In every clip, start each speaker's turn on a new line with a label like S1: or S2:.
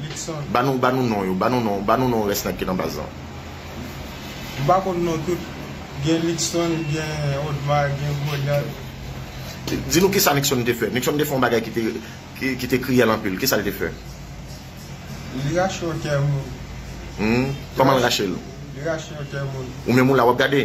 S1: Luckson. Ba
S2: nou, ba nou non
S1: yo, ba nou non, ba nou non rès nèg ki nan baz lan.
S2: M pa konn non tout, gen Luckson, gen Odmar, gen Godard.
S1: Di nou kisa Luckson te fè? Luckson te fè yon bagay ki te, ki te kriyèl anpil, kisa l te fè?
S2: Li rache yon kè moun. Hum, kòman l rache
S1: l? Li rache yon kè
S2: moun. Ou menm ou la w ap gade?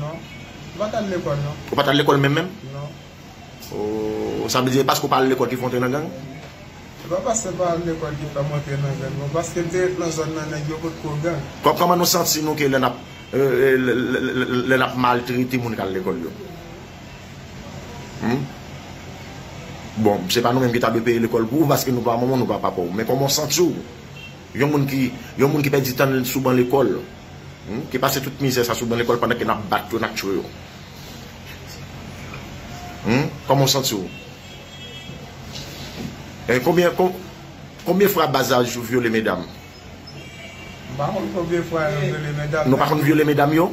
S2: Non. Ou pa t al lekòl non. Ou pa t al lekòl menm menm? Non.
S1: Oh, sa vle di e paske ou pa al lekòl ki fè w antre nan gang? Se pa paske
S2: m pa al lekòl ki fè m antre nan gang non, paske m te ret nan zòn nan nèg yo pot ko gang. Kòman nou santi nou ke lè
S1: n ap lè n ap maltrete moun k al lekòl yo? Hum? Bon, se pa nou menm ki ta dwe peye lekòl pou ou paske nou pa manman w nou pa papa w men kòman w santi w? Yon moun ki yon moun ki pèdi tan l sou ban lekòl, ki pase tout mizè sa sou ban lekòl pandan ke n ap bat yo, n ap tchwe yo. Kòman w santi w? Konbyen konbyen fwa baz la jou vyole medam? M
S2: pa konn
S1: konbyen
S2: fwa yo
S1: vyole
S2: medam.
S1: Nou pa konn vyole
S2: medam
S1: yo?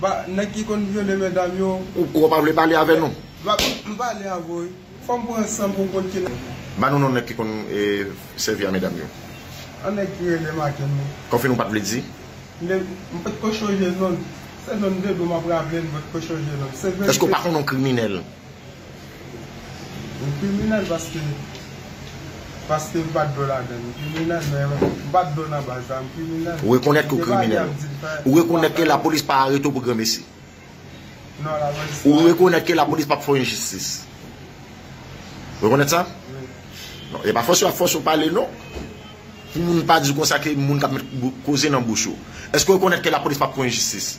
S1: Ba nèg ki
S2: konn vyole medam yo. Ou kwè w pa vle pale avè
S1: nou? Ba m pale
S2: avè w wi. Fò m pran san pou m konn ki nèg. Ba nou non nèg ki
S1: konn sèvi a medam yo. An nèg ki
S2: rele Makenn wi. Kòfin ou pa t vle di?
S1: Nde m pot
S2: ko chonje non l. Se non m te di w m ap raple l m pot ko chonje non l. Se verite. Èske w pa konn yon kriminèl? Yon kriminèl paske paske m pat dwe ladan l kriminèl men m pat dwe nan baz la m kriminèl. Ou rekonèt ke w kriminèl
S1: ou rekonèt ke lapolis pa arete w pou granmesi
S2: ou rekonèt ke lapolis
S1: pap fè w yon jistis ou rekonèt sa non
S2: e pa fòse
S1: yo ap fòse w pale non pou moun pa di w konsa ke moun kap met koze nan bouch ou èske w rekonèt ke lapolis pap fè w yon jistis.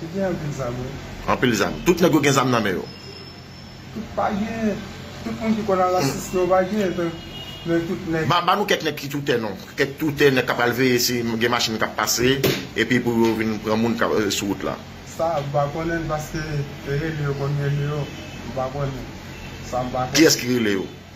S1: Te
S2: gen anpil zam wi. Anpil zam.
S1: Tout nèg yo gen zam nan men yo. Tout pa
S2: gen. Tout moun ki konn al asiste yo pa gen. Men tout nèg.
S1: Ba nou kèk nèg ki toutè non. Kèk toutè nèg k ap al veye si gen machin k ap pase. Epi pou yo vin pran moun k ap sou wout la. Sa m pa konnen
S2: l paske rele yo konn rele yo. M pa konnen. Sa m pa konnen. Kiyès ki rele yo?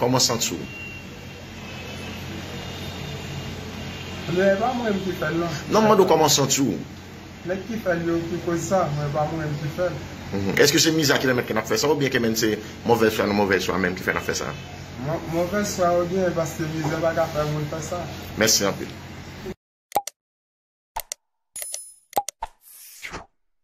S1: Koman
S2: santi w? Lè pa mwen menm ki fè l non. Non m mande w koman santi w?
S1: Nèg ki
S2: fè l yo ki koz sa, mwen pa mwen menm ki fè l. Eske se
S1: miza ki pèmèt ke n ap fè sa oubyen ke menn se movèz chwa nou movèz chwa menm ki fè n ap fè sa?
S2: Movèz
S1: chwa
S2: yo genyen paske mizè
S1: pa
S2: ka fè moun fè sa. Mèsi anpil.